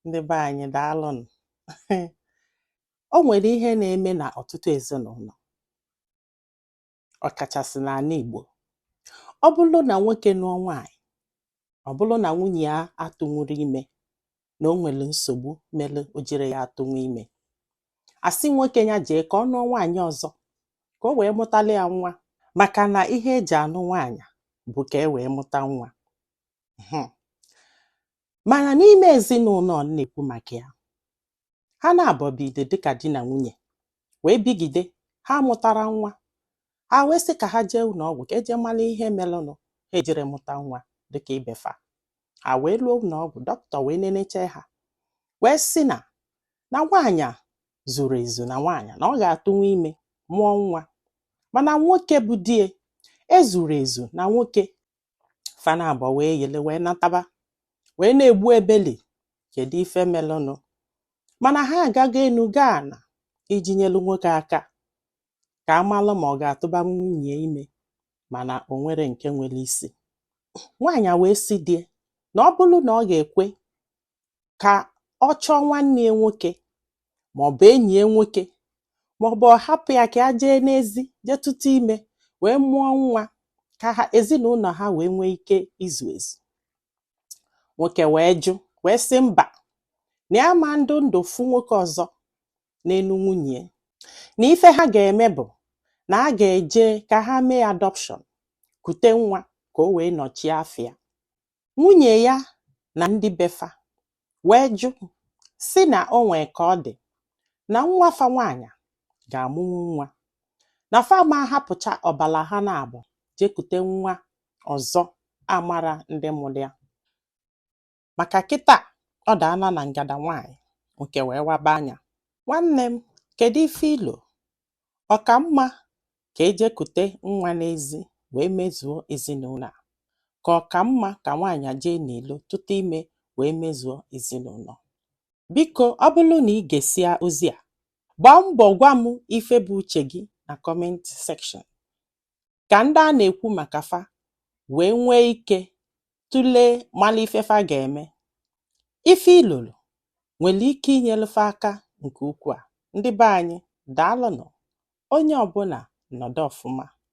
ndị be anyị daalụnụ o nwere ihe na-eme na ọtụtụ ezinụlọ ọkachasị n'ala Igbo ọ bụrụ na nwoke nụọ nwaanyị ọ bụrụ na nwunye ya atụnwuru ime na o nwere nsogbu mere o jiri ya atụnwu ime a sị nwoke ya jee ka ọ nụọ nwaanyị ọzọ ka o wee mụtali ya nwa maka na ihe e ji anụ nwaanyị bụ ka e wee mụta nwa Mana n'ime ezinụlọ a na-ekwu maka ya, ha naabọ bide dịka di na nwunye wee bigide ha amụtara nwa ha wee sị ka ha jee ụlọ ọgwụ ka e jee mara ihe merenụ ha ejiri mụta nwa dịka ibe fa ha wee ruo ụlọ ọgwụ dọkịta wee nenechaa ha wee sị na na nwaanyị a zuru ezu na nwaanyị na ọ ga-atụnwu ime mụọ nwa mana nwoke bụ di ya ezuru ezu na nwoke fa na abụọ wee yele wee nataba wee na-egbu ebeli kedu ife melụnụ mana ha agago enu gaa ana iji nyelu nwoke aka ka a malụ ma ọ ga-atụba nwunye ime mana o nwere nke nwere isi nwaanyị a wee sị di ya na ọ bụrụ na ọ ga-ekwe ka ọ chọọ nwanne ya nwoke ma ọ bụ enyi ya nwoke ma ọ bụ ọ hapụ ya ka ya jee n'ezi jee tụta ime wee mụọ nwa ka ha ezinụlọ ha wee nwee ike izu ezu nwoke wee jụ wee sị mba na ya ama nọdụ ndụ fụ nwoke ọzọ n'elu nwunye na ife ha ga-eme bụ na a ga-eje ka ha mee adoption kute nwa ka o wee nọchie afịa Nwunye ya na ndị be fa wee jụ sị na o nwee ka ọ dị na nwa fa nwaanyị ga-amụnwu nwa na fa ama ahapụcha ọbala ha naabọ jee kute nwa ọzọ amara ndị mụrụ ya maka kịta ọ daana na ngada nwaanyị nke wee waba anya nwanne m kedu ife i lo Ọ ka mma ka e jee kute nwa n'ezi wee mezuo ezinụlọ a ka ọ ka mma ka nwaanyị jee n'ilo tụta ime wee mezuo ezinụlọ? Biko, ọ bụrụ na i gesịa ozi a, gbaa mbọ gwa m ife bụ uche gị na comment section ka ndị a na-ekwu maka fa wee nwee ike tụlee mara ife fa ga-eme ife i loro nwere ike inyere fa aka nke ukwuu a ndị be anyị daalụnụ onye ọbụla nọdụ ọfụma